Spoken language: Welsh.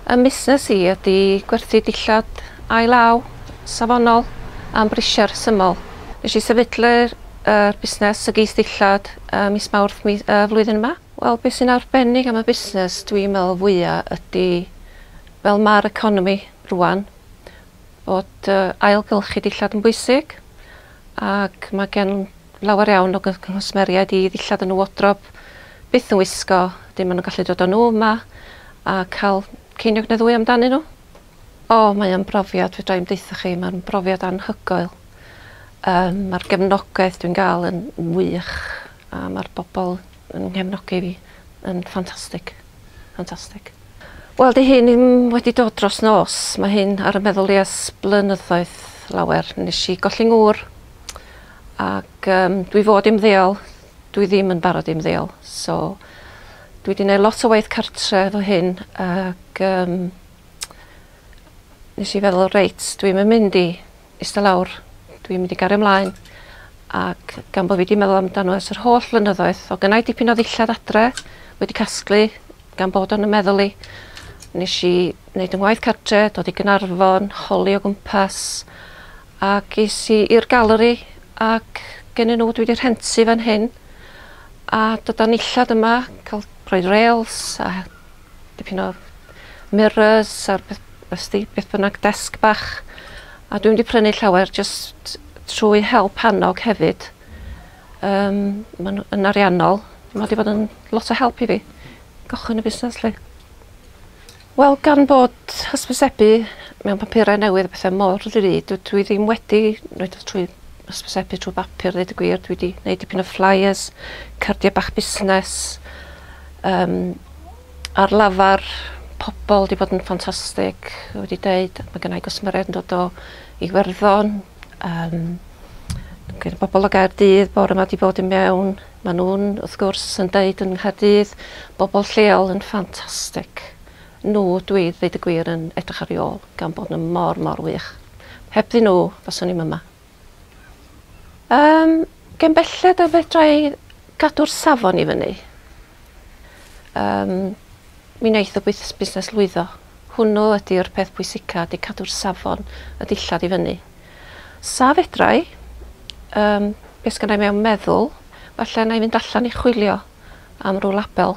Ym musnes i ydy gwerthu dillad ail-law, safonol, am brisiau rhesymol. Nes i sefydlu'r er, busnes y geith dillad ym mis Mawrth mi, uh, flwyddyn yma. Wel, beth sy'n arbennig am y busnes dwi'n meddwl fwya ydy fel ma'r economi rwan, bod ailgylchu dillad yn bwysig ac mae gen lawer iawn o nghwsmeriaid i ddillad yn y wodrob byth yn wisgo, dim maen nhw'n gallu dod â nhw yma a cael ceiniog neu ddwy amdanyn nhw. O, mae o'n brofiad, fedra i'm deutha chi, mae'n brofiad anhygoel. Um, mae'r gefnogaeth dwi'n gael yn wych a mae'r bobl yn nghefnogi fi yn ffantastig. Fantastic. Wel 'di hyn ddim wedi dod dros nos, mae hyn ar y meddwl i ers blynyddoedd lawer. Nes i golli ngŵr ac yym dwi fod i ymddeol, dwi ddim yn barod i ymddeol so dwi 'di neud lot o waith cartre efo hyn ac yym nes i feddwl reit dwi'm yn mynd i Ista lawr. Dw i'n mynd i gario mlaen ac gan bo' fi 'di meddwl amdano ers yr holl flynyddoedd, o' gynnai dipyn o ddillad adre wedi casglu gan bod o'n 'y meddwl i. Nesh i neud 'yn ngwaith cartre, dod i Gaernarfon, holi o gwmpas ac es i i'r galeri ac gennyn n'w dwi 'di rhentu fan hyn a dydan nillad yma ca'l rhoi rêls a dipyn o mirrors a beth ws't ti, beth bynnag, desg bach. A dwi'm 'di prynu llawer jyst trwy help annog hefyd. Yym ma'n yn ariannol, ma' 'di bod yn lot o help i fi gychwyn y busnes 'lly. Wel gan bod hysbysebu mewn papurau newydd a pethe mor ddrud dw- dwi ddim wedi neud o trwy hysbysebu trwy bapur ddeud y gwir dwi 'di neud dipyn o flyers cardia bach busnes yym ar lafar pobol 'di bod yn ffantastig fel wedi deud ma' gynnai gwsmeriaid yn dod o Iwerddon yym gyda bobol o Gaerdydd bore 'ma 'di bod i mewn ma' nw'n wrth gwrs yn deud yng Nghaerdydd bobol lleol yn ffantastic nhw dwi ddeud y gwir yn edrych ar i ôl gan bod nhw mor mor wych. Hebddyn nhw faswn i'm yma. Yym gen belled y fedra i gadw'r safon i fyny. Yym mi wneith y bwys- busnes lwyddo. Hwnnw ydy'r peth pwysica ydy cadw'r safon y dillad i fyny. Sa fedra i yym be' sgynna i mewn meddwl falle 'na i fynd allan i chwilio am rw label